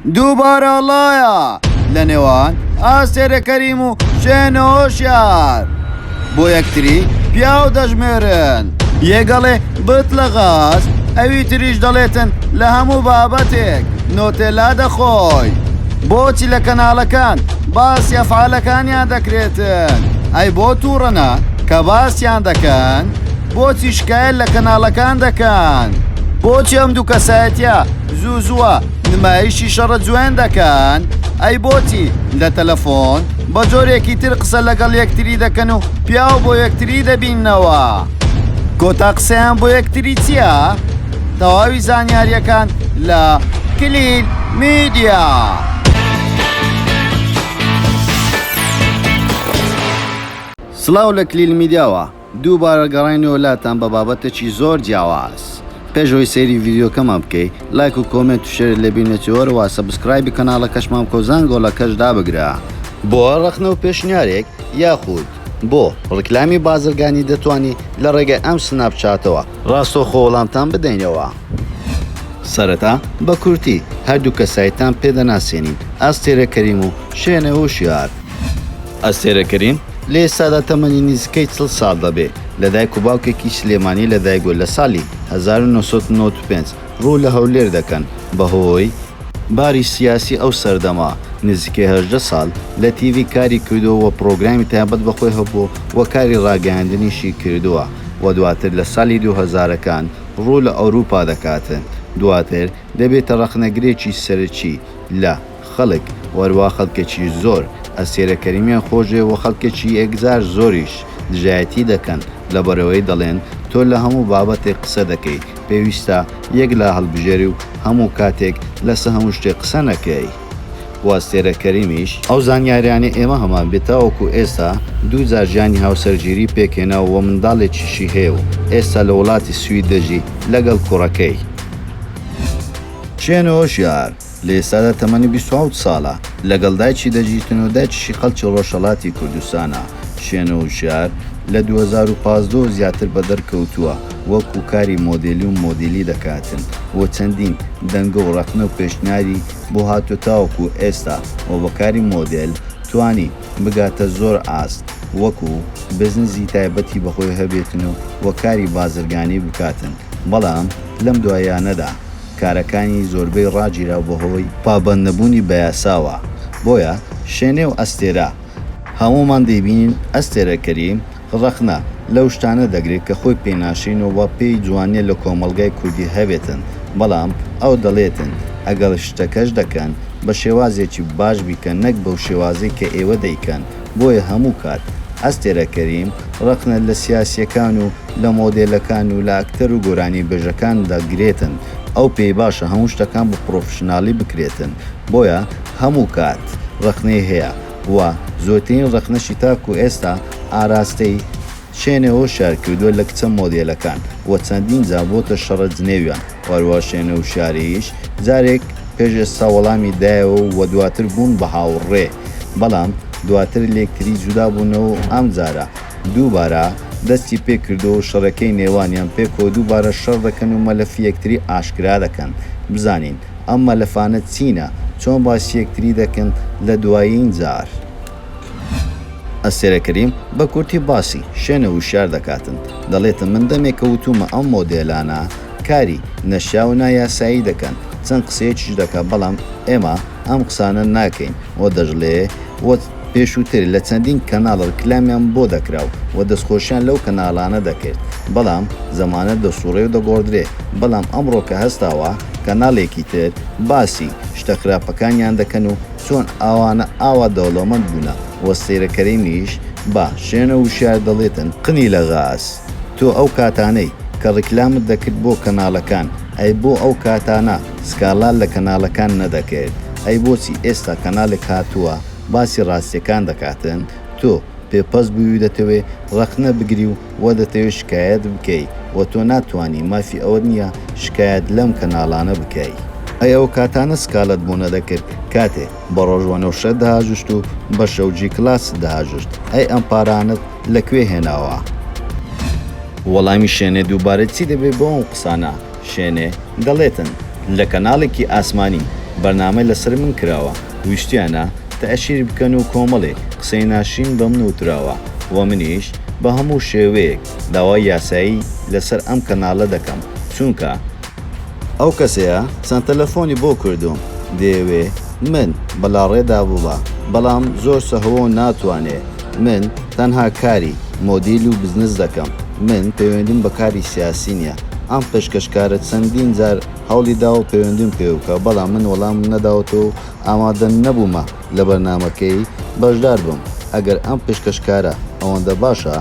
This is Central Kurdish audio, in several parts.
دووبارە ئەڵایا لە نێوان ئاستێرە کەریم و شوێنە هۆشیار بۆ یەکتری پیاو دەژمێرن یەگەڵێ بت لە غاز ئەوی تریش دەڵێتن لە هەموو بابەتێک نۆتێلا دەخۆی بۆچی لە کەناڵەکان باس یەفعالەکانیان دەکرێتن ئەی بۆ تووڕەنا کە باسیان دەکەن بۆچی شکایل لە کەناڵەکان دەکەن بۆچی ئەم دوو کەسایەتە زوو زووە نمایشی شەڕە جوێندەکان، ئەی بۆچی لە تەلەفۆن بە جۆرێکی تر قسە لەگەڵ یەکتری دەکەن و پیاو بۆ یەکتری دەبینەوە؟ کۆتا قسەیان بۆ یەکتری چییە؟ تەواوی زانیاریەکان لە کلیل میدیا. سڵاو لە کلیل میدیاوە. دووبارە گەڕاینەوە لاتان بە بابەتێکی زۆر جیاواز پێش ئەوەی سەیری ڤیدیۆکەمان بکەی لایک و کۆمێنت و شێرت لەبیر نەچێ وەرەوە سەبسکرایبی کەناڵەکەشمان بکە و زانگۆڵەکەش دابگرە. بۆ ڕەخنە و پێشنیارێک یاخود بۆ ڕیکلامی بازرگانی دەتوانی لە ڕێگای ئەم سناپ چاتەوە ڕاستەوخۆ وەڵامتان بدەینەوە. سەرەتا بە کورتی هەردوو کەسایتتان پێ دەناسێنین، ئەستێرە کەریم و شێنێ هوشیار. ئەستێرە کەریم لە ئێستادا تەمەنی نزیکەی چڵ ساڵ دەبێ، لە دایک و باوکێکی سلێمانی لە دایک بووە لە ساڵی هەزار و نۆ سەد و نەوەد و پێنج ڕوو لە هەولێر دەکەن بە هۆی، باری سیاسی ئەو سەردەمە، نزیکەی هەژدە ساڵ لە تیڤی کاری کردووە و پڕۆگرامی تایبەت بە خۆی هەبووە و کاری ڕاگەیاندنیشی کردووە و دواتر لە ساڵی دوو هەزارەکان ڕوو لە ئەوروپا دەکاتن دواتر دەبێتە ڕەخنەگرێکی سەرەکی لە خەڵک وەروا خەڵکێکی زۆر ئەستێرە کەریمیان خۆشدەوێت وە خەڵکێکی ئێکزار زۆریش دژایەتی دەکەن لەبەرئەوەی دەڵێن تۆ لە هەموو بابەتێک قسە دەکەی پێویستە یەک لا هەڵبژێری و هەموو کاتێک لەسە هەموو شتێک قسە نەکەی وە ئەستێرە کەریمیش ئەو زانیاریانەی ئێمە هەمان بێت تاوەکو ئێستا دوو جار ژیانی هاوسەرگیری پێکهێناوە وە منداڵێکیشی هەیە و ئێستا لە وڵاتی سوید دەژی لەگەڵ کوڕەکەی. چێنۆ ژیار لە ئێستادا تەمەنی بیست و حەوت ساڵە، لەگەڵ دایکی دەژیتن و دایکیشی خەڵکی ڕۆژهەڵاتی کوردستانە، شێنۆ وشیار لە دوو هەزار و پازدە و زیاتر بەدەرکەوتووە وەکو کاری مۆدێلی و مۆدیلی دەکاتن و چەندین دەنگە و ڕەخنە و پێشنیاری بۆ هاتووە تاوەکو ئێستا و بە کاری مۆدێل توانی بگاتە زۆر ئاست وەکو بزنسی تایبەتی بەخۆی هەبێتن و کاری بازرگانی بکاتن بەڵام لەم دواییانەدا کارەکانی زۆربەی ڕاگیراو بەهۆی پابەند نەبوونی بەیاساوە بۆیە شێنێ و ئەستێرە هەموومان دەیبینین ئەستێرە کەریم ڕەخنە لەو شتانە دەگرێت کە خۆی پێ ناشرین و وە پێی جوانیە لە کۆمەڵگای کوردی هەبێتن بەڵام ئەو دەڵێتن ئەگەر شتەکەش دەکەن بە شێوازێکی باش بیکەن نەک بەو شێوازەی کە ئێوە دەیکەن بۆیە هەموو کات ئەستێرە کەریم ڕەخنە لە سیاسیەکان و لە مۆدێلەکان و لە ئەکتەر و گۆرانی بێژەکان دەگرێتن ئەو پێی باشە هەموو شتەکان بە پڕۆفشنالی بکرێتن بۆیە هەموو کات ڕەخنەی هەیە و زۆرترین ڕەخنەشی تاکو ئێستا ئاراستەی شێنێوە شار کردووە لە کچە مۆدێلەکان و چەندین جار بۆتە شەڕە جنێویان و هەروەها شێنێو شاریش جارێک پێش ئێستا وەڵامی دایەوە و دواتر بوون بە هاوڕێ بەڵام دواتر لێکتری جودا بوونەوە و ئەمجارە دووبارە دەستی پێ کردووە و شەڕەکەی نێوانیان پێکەوە دووبارە شەڕ دەکەن و مەلەفی یەکتری ئاشکرا دەکەن بزانین ئەم مەلەفانە چینە چۆن باسی یەکتری دەکەن لە دوایین جار. ئەستێرە کەریم بە کورتی باسی، شێنە وشیار، دەکاتن، دەڵێتن من دەمێکە وتوومە ئەم مۆدێلانە کاری، نەشیاو و نایاسایی، دەکەن، چەند قسەیەکیش دەکات بەڵام ئێمە ئەم قسانە ناکەین و دەشڵێ و پێشووتر لە چەندین کەناڵ ڕیکلامیان بۆ دەکرا و دەستخۆشیان لەو کەناڵانە دەکرد بەڵام زەمانە دەسووڕێ و دەگۆڕدرێ بەڵام ئەمڕۆ کە هەستاوە کەناڵێکی تر باسی شتە خراپەکانیان دەکەن و چۆن ئاوانە ئاوا دەوڵەمەند بوونە وە سەیرە کەرینیش با شێنە وشیار دەڵێتن قنی لە غاز تۆ ئەو کاتانەی کە ڕیکلامت دەکرد بۆ کەناڵەکان ئەی بۆ ئەو کاتانە سکاڵا لە کەناڵەکان نەدەکرد ئەی بۆچی ئێستا کەناڵێک هاتووە باسی ڕاستیەکان دەکاتن تۆ پێ پەس بووی و دەتەوێ ڕەخنە بگری و وا دەتەوێت شکایەت بکەی و تۆ ناتوانی مافی ئەوەت نیە شکایەت لەم کەناڵانە بکەی. ئەی ئەو کاتانە سکاڵەت بۆ نەدەکرد کاتێ بە ڕۆژ وەنەوشەت دەهاژشت و بە شەو جی کلاست دەهاژشت ئەی ئەم پارانەت لە کوێ هێناوە. وەڵامی شێنێ دووبارە چی دەبێ بۆ ئەم قسانە. شێنێ، دەڵێتن لە کەناڵێکی ئاسمانی بەرنامە لەسەر من کراوە، ویشتیانە تەئشیر بکەن و کۆمەڵێک قسەی ناشرین بە من وتراوە و منیش بە هەموو شێوەیەک داوای یاسایی لەسەر ئەم کەناڵە دەکەم چونکە ئەو کەسەیە چەند تەلەفۆنی بۆ کردووم دەیەوێ من بە لاڕێدا ببا بەڵام زۆر سەهۆ و ناتوانێ من تەنها کاری مۆدیل و بزنس دەکەم، من پەیوەندیم بە کاری سیاسی نیە، ئەم پێشکەشکارە چەندین جار هەوڵی داوە پەیوەندیم پێوە بکا بەڵام من وەڵامم نەداوەتەوە و ئامادە نەبوومە لە بەرنامەکەی بەشدار بم، ئەگەر ئەم پێشکەشکارە ئەوەندە باشە،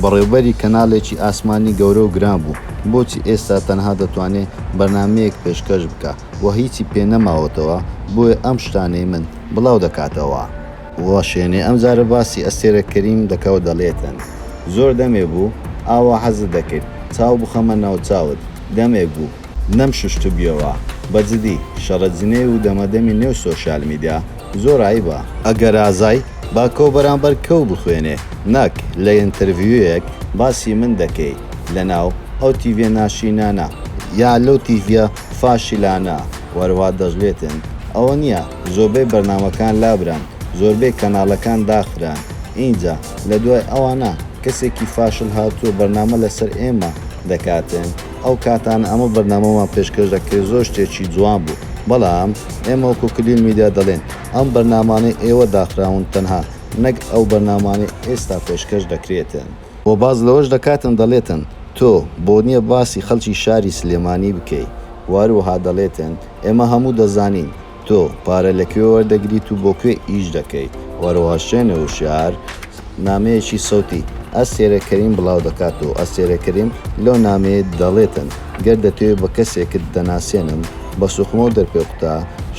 بەڕێوبەری کەناڵێکی ئاسمانی گەورە و گران بوو بۆچی ئێستا تەنها دەتوانێ بەرنامەیەک پێشکەش بکا و هیچی پێ نەماوەتەوە، بۆیە ئەم شتانەی من بڵاو دەکاتەوە. وەشێنێ ئەمجارە باسی ئەستێرە کەریم دەکا و دەڵێتن، زۆر دەمێ بوو ئاوا حەزت دەکرد چاو بخەمە ناو چاوت، دەمێک بوو نەمشوشتبیەوە، بەجدی شەڕە جنێو و دەمەدەمی نێو سۆشیال میدیا زۆر عەیبە. ئەگەر ئازای باکۆ بەرامبەر کەو بخوێنێ نەک لە ئینتەرڤیویەک باسی من دەکەی لەناو ئەو تیڤیە ناشرینانە. یا لەو تیڤیە فاشلانە وەروا دەژلێتێن ئەوە نیە زۆربەی بەرنامەکان لابران زۆربەی کەنالەکان داخران ئینجا لە دوای ئەوانە کەسێکی فاشل هاتوە بەرنامە لەسەر ئێمە دەکاتێن ئەو کاتانە ئەمە بەرنامەمان پێشکەش دەکرێت زۆر شتێکی جوان بوو بەڵام ئێمە وەکو کلیل میدیا دەڵێن ئەم بەرنامانەی ئێوە داخراون تەنها نەک ئەو بەرنامانەی ئێستا پێشکەش دەکرێتێن. وە باس لەوەش دەکاتن دەڵێتن تۆ بۆ نیە باسی خەڵکی شاری سلێمانی بکەی وەهروەها دەڵێتن ئێمە هەموو دەزانین تۆ پارە لەکوێ وەردەگریت و بۆکوێ ئیش دەکەیت وەهروەها شوێنێ وشیار نامەیەکی سەوتی ئەستێرە کەریم بڵاو دەکات و ئەستێرە کەریم لەو نامەیە دەڵێتن گەر دەتەوێ بە کەسێکت دەناسێنم بە سوخمەو دەرپێ قوتە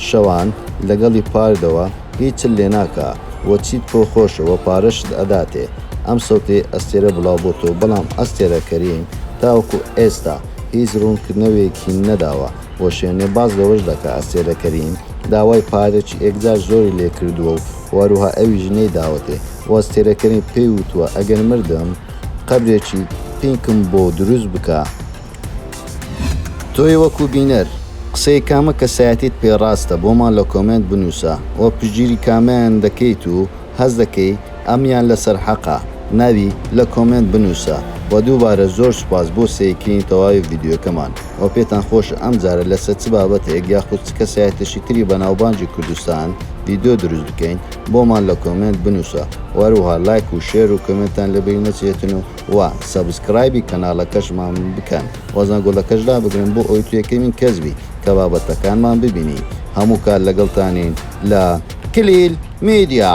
شەوان لەگەڵی پاردەوە هیچت لێ ناکا وە چیت پۆ خۆشە وە پارەشت ئەداتێ ئەم سەوتەی ئەستێرە بڵاو بۆ تۆ بەڵام ئەستێرە کەریم تاوەکو ئێستا هیچ ڕوون کردنەوێکی نەداوە وە شێنێ باس لەوەش دەکا ئەستێرە کەریم داوای پارەکی ئێکجار زۆری لێ کردووە و وەروها ئەویش نەی داوەتێ وە ئەستێرە کەریم پێی وتووە ئەگەر مردم قەبرێکی پینکم بۆ دروست بکە تۆی وەکو بینەر قسەی کامە کەسایەتیت پێ ڕاستە بۆمان لە کۆمێنت بنوسە وە پشتگیری کامەیان دەکەیت و هەست دەکەی ئەمیان لەسەر حەقە ناوی لە کۆمێنت بنوسە وە دووبارە زۆر سوپاس بۆ سەیرکردنی تەواوی ڤیدیۆکەمان وە پێتان خۆشە ئەمجارە لەسەر چ بابەتێک یاخود چ کەسایەتێکی تری بەناوبانگی کوردستان ڤیدیۆ دروست بکەین بۆمان لە کۆمێنت بنوسە وە هەروەها لایک و شێر و کۆمێنتان لەبیر نەچێتن و وە سەبسکرایبی کەناڵەکەشمان بکەن وە زەنگۆلەکەش لابگرن بۆ ئەوەی تو یەکەمین کەس بی کە بابەتەکانمان ببینی هەموو کات لەگەڵتانین لە کلیل میدیا.